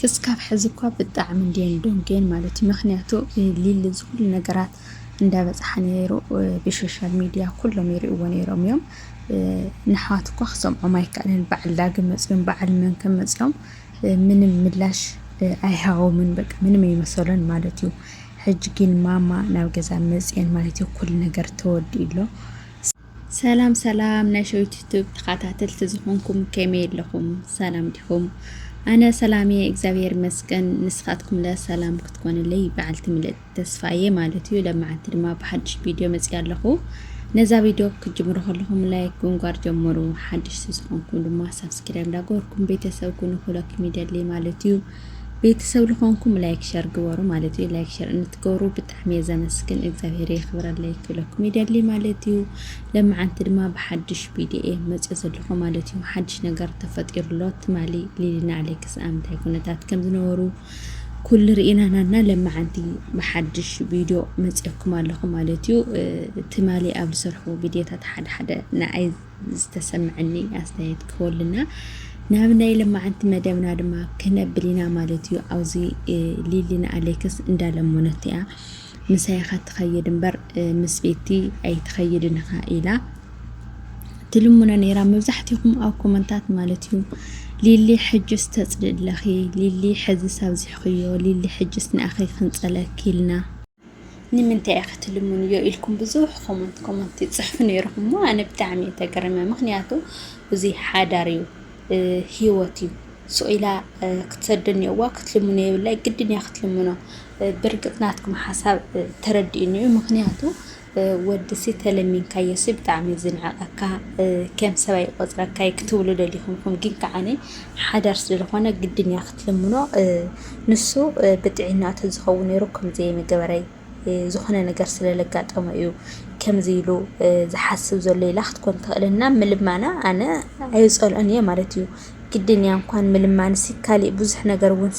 ክስካብ ሕዚ እኳ ብጣዕሚ እንድየን ደንጉየን ማለት እዩ ምክንያቱ ሊሊ ዝኩሉ ነገራት እንዳበፅሓ ነይሩ ብሶሻል ሚድያ ኩሎም ይሪእዎ ነይሮም እዮም ንኣሕዋት እኳ ክሰምዖም ኣይከኣለን በዓል ዳግም መፅዮም በዓል መን ከም መፅዮም ምንም ምላሽ ኣይሃቦምን በቃ ምንም ኣይመሰሎን ማለት እዩ ሕጂ ግን ማማ ናብ ገዛ መፅየን ማለት እዩ ኩሉ ነገር ተወዲኡ ኣሎ ሰላም ሰላም ናይ ሸዊት ዩቱብ ተኻታተልቲ ዝኾንኩም ከመይ ኣለኹም ሰላም ዲኹም ኣነ ሰላም እየ እግዚኣብሔር ይመስገን ንስኻትኩም ለ ሰላም ክትኮንለይ በዓልቲ ምልእት ተስፋ እየ ማለት እዩ ለመዓንቲ ድማ ብሓድሽ ቪድዮ መፅእ ኣለኹ ነዛ ቪድዮ ክትጅምሩ ከለኹም ላይክ ጉንጓር ጀምሩ ሓድሽ ዝኾንኩም ድማ ሳብስክራይብ እንዳገበርኩም ቤተሰብ ኩኑ ክብለኩም ይደሊ ማለት እዩ ቤተሰብ ልኾንኩም ላይክ ሸር ግበሩ ማለት እዩ ላይክ ሸር እንትገብሩ ብጣዕሚ እየ ዘመስግን እግዚኣብሄር የኽብረለይ ክብለኩም ይደሊ ማለት እዩ ለመዓንቲ ድማ ብሓድሽ ቪድዮ እየ መፅኦ ዘለኹ ማለት እዩ ሓድሽ ነገር ተፈጢሩ ኣሎ ትማሊ ሊሊና ኣሌክስ ኣምታይ ኩነታት ከም ዝነበሩ ኩሉ ርኢናናና ለመዓንቲ ብሓድሽ ቪድዮ መፅኦኩም ኣለኹ ማለት እዩ ትማሊ ኣብ ዝሰርሑ ቪድዮታት ሓደ ሓደ ንኣይ ዝተሰመዐኒ ኣስተያየት ክህበሉና ናብ ናይ ለማዓንቲ መደብና ድማ ክነብል ኢና ማለት እዩ ኣብዚ ሊሊ ንኣሌክስ እንዳለመኖት እያ ምሳይ ኢኻ ትኸይድ እምበር ምስ ቤቲ ኣይትኸይድን ኢኻ ኢላ ትልሙና ነይራ መብዛሕትኹም ኣብ ኮመንታት ማለት እዩ ሊሊ ሕጅስ ተፅልእለኺ ሊሊ ሕዝስ ኣብዚሕኽዮ ሊሊ ሕጅስ ንኣኺ ክንፀለኪ ኢልና ንምንታይ ኢኺ ትልምንዮ ኢልኩም ብዙሕ ኮመንት ኮመንት ይጽሕፉ ነይርኹም እሞ ኣነ ብጣዕሚ እየ ተገሪመ ምክንያቱ እዚ ሓዳር እዩ ሂወት እዩ ስኢላ ክትሰዶ እኒኦዋ ክትልምኖ የብላይ ግድን እያ ክትልምኖ ብርግፅ ናትኩም ሓሳብ ተረዲኡኒ እዩ ምክንያቱ ወድሲ ተለሚንካዮሲ ብጣዕሚ እዩ ዝንዕቀካ ከም ሰብ ኣይቆፅረካ እዩ ክትብሉ ደሊኹም ኢኹም ግን ከዓኒ ሓዳር ስለዝኾነ ግድን እያ ክትልምኖ ንሱ ብጥዒና ተዝኸውን ነይሩ ከምዚ ምገበረይ ዝኾነ ነገር ስለለጋጠመ እዩ ከምዚ ኢሉ ዝሓስብ ዘሎ ኢላ ክትኮን ትኽእል እና ምልማና ኣነ ኣይፀልኦን እየ ማለት እዩ ግድን እያ እንኳን ምልማንሲ ካሊእ ብዙሕ ነገር እውን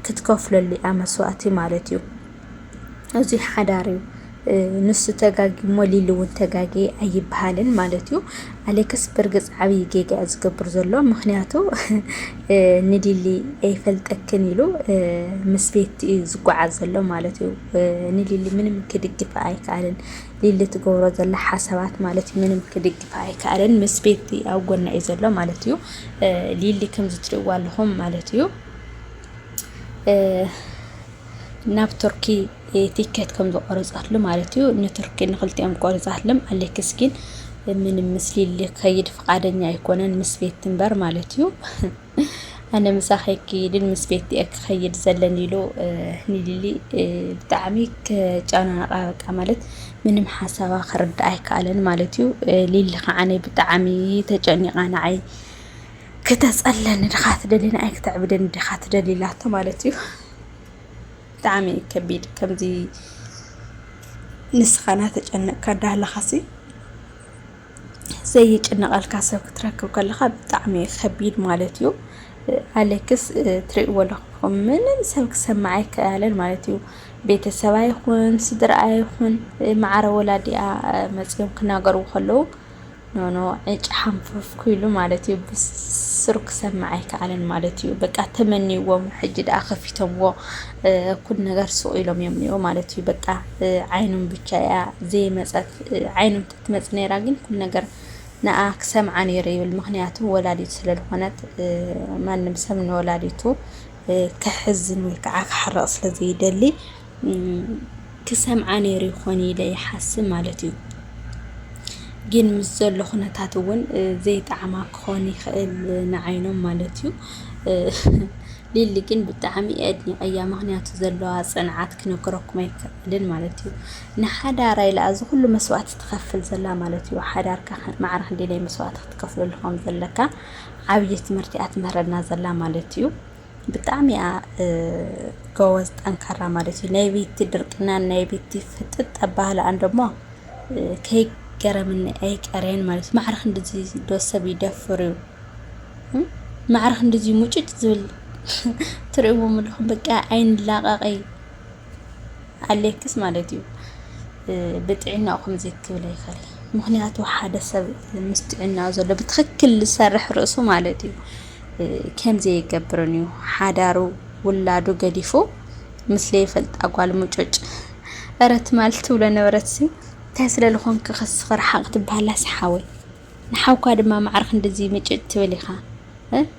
ክትከፍለሉ እያ መስዋእቲ ማለት እዩ። እዙይ ሓዳር እዩ ንሱ ተጋግዩ እሞ ሊሊ እውን ተጋግየ ኣይበሃልን ማለት እዩ። ኣሌክስ ብርግፅ ዓብዪ ጌጋ እዩ ዝገብር ዘሎ ምክንያቱ ንሊሊ ኣይፈልጠክን ኢሉ ምስ ቤት እዩ ዝጓዓዝ ዘሎ ማለት እዩ። ንሊሊ ምንም ክድግፋ ኣይከኣልን ሊሊ ትገብሮ ዘላ ሓሳባት ማለት እዩ ምንም ክድግፋ ኣይከኣልን ምስ ቤት ኣብ ጎና እዩ ዘሎ ማለት እዩ። ሊሊ ከምዚ ትሪእዋ ኣለኹም ማለት እዩ። ናብ ቱርኪ ቲኬት ከም ዝቆረጻትሉ ማለት እዩ ንቱርኪ ንክልቲኦም ቆሪጻትልም ኣሌክስ ግን ምንም ምስሊ ልከይድ ፍቃደኛ ኣይኮነን ምስ ቤት ትንበር ማለት እዩ ኣነ ምሳኺ ክይድን ምስ ቤት እየ ክኸይድ ዘለን ኢሉ ንሊሊ ብጣዕሚ ከጨናነቃ በቃ ማለት ምንም ሓሳባ ክርዳእ ኣይከኣለን ማለት እዩ ሊሊ ከዓኒ ብጣዕሚ ተጨኒቃ ንዓይ ክተፀለኒ ድኻ ትደሊ ንኣይ ክተዕብደኒ ድኻ ትደሊ ኢላቶ ማለት እዩ። ብጣዕሚ እዩ ከቢድ ከምዚ ንስኻ እናተጨነቕካ እንዳሃለኻሲ ዘይጭነቐልካ ሰብ ክትረክብ ከለኻ ብጣዕሚ እዩ ከቢድ ማለት እዩ። ኣሌክስ ትሪእዎ ኣለኹም ምንም ሰብ ክሰምዕ ኣይከኣለን ማለት እዩ። ቤተሰብ ኣይኹን ስድራ ኣይኹን ማዕረ ወላዲኣ መፂኦም ክናገርዎ ከለዉ ኖኖ ዕጭ ሓንፈፍኩ ኢሉ ማለት እዩ ብስሩ ክሰምዕ ኣይከኣለን ማለት እዩ። በቃ ተመንይዎ እሞ ሕጂ ደኣ ከፊቶምዎ ኩሉ ነገር ሱቕ ኢሎም እዮም እኒኦ ማለት እዩ። በቃ ዓይኖም ብቻ እያ ዘይመፀት ዓይኖም ተትመፅ ነይራ ግን ኩሉ ነገር ንኣ ክሰምዓ ነይሩ ይብል። ምክንያቱ ወላዲቱ ስለዝኾነት ማንም ሰብ ንወላዲቱ ከሕዝን ወይ ከዓ ክሓርቕ ስለዘይደሊ ክሰምዓ ነይሩ ይኾን ኢለ ይሓስብ ማለት እዩ። ግን ምስ ዘሎ ኩነታት እውን ዘይጣዕማ ክኾን ይኽእል ንዓይኖም ማለት እዩ። ሊሊ ግን ብጣዕሚ ኣድኒቐያ፣ ምኽንያቱ ዘለዋ ፅንዓት ክነግረኩም ኣይክእልን ማለት እዩ። ንሓዳራ ኢላ እዚ ኩሉ መስዋእቲ ትኸፍል ዘላ ማለት እዩ። ሓዳርካ ማዕረ ክንደየናይ መስዋእቲ ክትከፍለሉ ከም ዘለካ ዓብዪ ትምህርቲ እያ ትምህረና ዘላ ማለት እዩ። ብጣዕሚ እያ ጎበዝ ጠንካራ ማለት እዩ። ናይ ቤቲ ድርቅናን ናይ ቤቲ ፍጥጥ ኣባህላኣን ደሞ ከይገረምኒ ኣይቀረየን ማለት እዩ። ማዕርኽ እንድዚ ዶ ሰብ ይደፍር እዩ? ማዕርኽ እንድዚ ሙጭጭ ዝብል ትርእይዎ ምልኹም በቃ ኣይንላቐቐይ ኣለክስ ማለት እዩ። ብጥዕናኡ ከምዚ ክብል ኣይኽእል ምክንያቱ ሓደ ሰብ ምስ ጥዕናኡ ዘሎ ብትኽክል ዝሰርሕ ርእሱ ማለት እዩ። ኬም ዘየገብርን እዩ ሓዳሩ ውላዱ ገዲፉ ምስ ለይፈልጣ ጓል ሙጩጭ እረ ትማል ትብሎ ነበረት ሲ እንታይ ስለ ልኾንክ ከስኽ ርሓቕ ትብሃላ ሰሓወይ ንሓውካ ድማ ማዕረ ክንድዚ ምጭጭ ትብል ኢኻ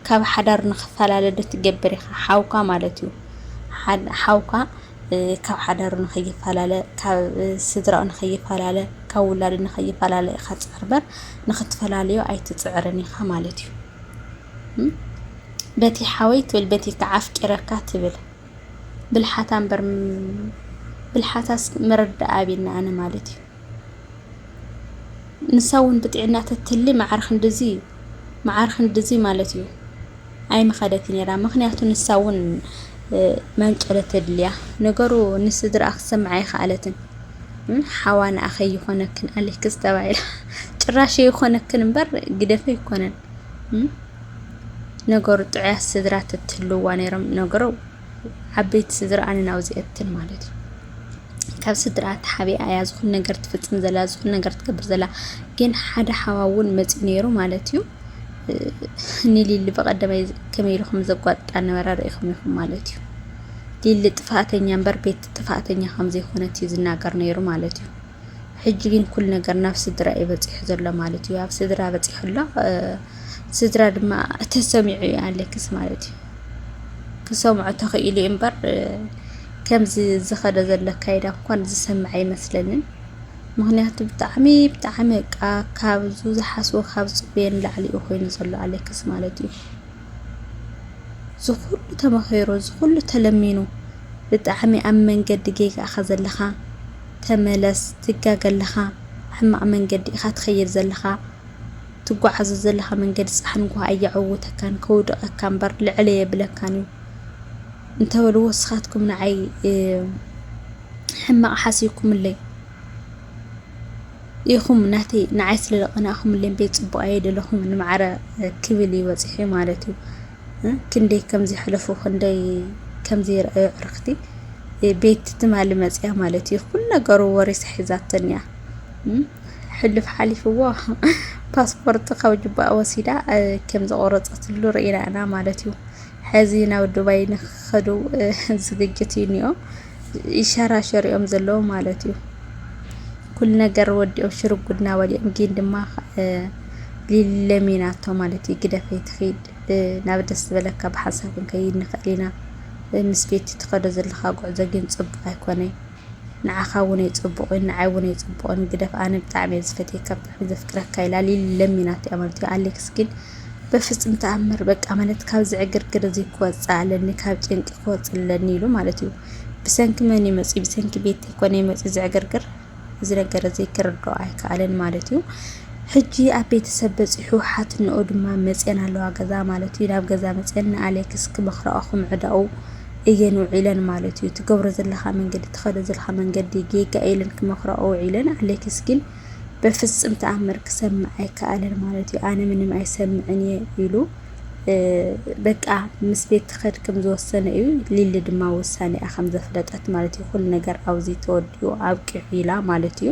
ካብ ሓዳሩ ንክፈላለ ዶ ትገብር ኢኻ ሓውካ ማለት እዩ ሓውካ ካብ ሓዳሩ ንኸይፈላለ ካብ ስድራኡ ንኸይፈላለ ካብ ውላዱ ንኸይፈላለ ኢኻ ትፅዕር በር ንክትፈላለዮ ኣይትፅዕርን ኢኻ ማለት እዩ በቲ ሓወይ ትብል በቲ ከዓ ኣፍቂረካ ትብል ብልሓታ እምበር ብልሓታስ ምርዳእ ኣብና ኣነ ማለት እዩ ንሳ እውን ብጥዕና ተትህሊ መዓር ክንድዚ መዓር ክንድዚ ማለት እዩ ኣይምኸደት ነይራ። ምክንያቱ ንሳ እውን መንጨለ ተድልያ ነገሩ ንስድራ ክትሰምዓ ኣይከኣለትን። ሓዋ ንኣኸ ይኾነክን ኣሌክስ ተባሂላ ጭራሽ ይኾነክን እምበር ግደፈ ይኮነን ነገሩ ጥዑያት ስድራ ተትህልዋ ነይሮም ነገሩ ዓበይቲ ስድራ ኣነ ናብዚኣትን ማለት እዩ ካብ ስድራ ተሓቢኣ እያ ዝኹን ነገር ትፍፅም ዘላ ዝኹን ነገር ትገብር ዘላ ግን ሓደ ሓዋ እውን መፅኡ ነይሩ ማለት እዩ ንሊሊ በቀደመይ ከመይ ኢልኩም ዘጓጥጣ ነበረ ርኢኹም ኢኹም ማለት እዩ ሊሊ ጥፋኣተኛ እምበር ቤት ጥፋኣተኛ ከም ዘይኮነት እዩ ዝናገር ነይሩ ማለት እዩ። ሕጂ ግን ኩሉ ነገር ናብ ስድራ እዩ በፂሑ ዘሎ ማለት እዩ። ኣብ ስድራ በፂሑ ኣሎ። ስድራ ድማ ተሰሚዑ እዩ ኣለክስ ማለት እዩ። ክሰምዖ ተኽኢሉ እዩ እምበር ከምዚ ዝኸደ ዘሎ ኣካይዳ እንኳን ዝሰምዐ ኣይመስለንን። ምክንያቱ ብጣዕሚ ብጣዕሚ በቃ ካብዙ ዝሓስቦ ካብ ዝፅበዮ ንላዕሊ እዩ ኮይኑ ዘሎ ኣሌክስ ማለት እዩ። እዚ ኩሉ ተመኺሩ እዚ ኩሉ ተለሚኑ ብጣዕሚ ኣብ መንገዲ ጌጋ ኢኻ ዘለኻ ተመለስ ትጋገ ኣለኻ ሕማቅ መንገዲ ኢኻ ትኸይድ ዘለኻ ትጓዓዞ ዘለኻ መንገዲ ጻሕን ጓሃ ኣየዕውተካን ከውድቀካ እምበር ልዕል ኣየብለካን እዩ እንተበልዎ እስኻትኩም ንዓይ ሕማቅ ሓሲብኩምለይ ኢኹም ናተይ ንዓይ ስለ ዘቐናእኩምለይ እምበይ ጽቡቕ ኣየደለኹምን ንማዕረ ክብል እዩ በጺሑ ማለት እዩ። እ፣ ክንደይ ከም ዘሕለፉ ክንደይ ከም ዘይረኣዩ ኣዕርኽቲ እ፣ ቤት ትማሊ መጽያ ማለት እዩ ኩሉ ነገሩ ወሪሳ ሒዛተን እያ። እ፣ ሕሉፍ ሓሊፍዎ ፓስፖርት ካብ ጅባኣ ወሲዳ እ፣ ከም ዘቖረጸትሉ ርኢና ኢና ማለት እዩ። ሐዚ ናብ ዱባይ ንክኸዱ ዝግጅት እዩ እኒኦ ይሸራሸሩ እዮም ዘለዉ ማለት እዩ። ኩሉ ነገር ወዲኦም ሽርጉድ ናበል እዮም ግን ድማ ሊለሚናቶ ማለት እዩ ግደፈይ ትኺድ ናብ ደስ ዝበለካ ብሓንሳብ ክንከይድ ንኽእል ኢና ምስ ቤት ትኸዶ ዘለኻ ጉዕዞ ግን ፅቡቅ ኣይኮነ ንዓኻ እውን ኣይፅቡቅ እዩ ንዓይ እውን ኣይፅቡቅን ግደፍ ኣነ ብጣዕሚ እየ ዝፈትየካ ብጣዕሚ ዘፍቅረካ ኢላ ሊሊ ለሚናቶ እያ ማለት እዩ ኣሌክስ ግን በፍጽም ተኣምር በቃ ማለት ካብዚ ዕግርግር እዚ ክወጽእ ኣለኒ ካብ ጭንቂ ክወጽእ ኣለኒ ኢሉ ማለት እዩ። ብሰንኪ መን እዩ መጺኡ ብሰንኪ ቤት ኮነ እዩ መጺኡ ዝዕግርግር እዚ ነገር እዚ ክርድኦ ኣይከኣለን ማለት እዩ። ሕጂ ኣብ ቤተሰብ በፂሑ ሓትንኦ ድማ መፅን ኣለዋ ገዛ ማለት እዩ ናብ ገዛ መፅን ንኣሌክስ ክመኽረኦ ክምዕዳኡ እየን ውዒለን ማለት እዩ ትገብሮ ዘለካ መንገዲ ትኸዶ ዘለካ መንገዲ ጌጋ ኢለን ክመኽረኦ ውዒለን ኣሌክስ ግን በፍጽም ተኣምር ክሰምዕ ኣይከኣለን ማለት እዩ፣ ኣነ ምንም ኣይሰምዕን እየ ኢሉ በቃ ምስ ቤት ትኸድ ከም ዝወሰነ እዩ። ሊሊ ድማ ውሳኔኣ ከም ዘፍለጠት ማለት እዩ፣ ኩሉ ነገር ኣብዚ ተወዲኡ ኣብቂዑ ኢላ ማለት እዩ።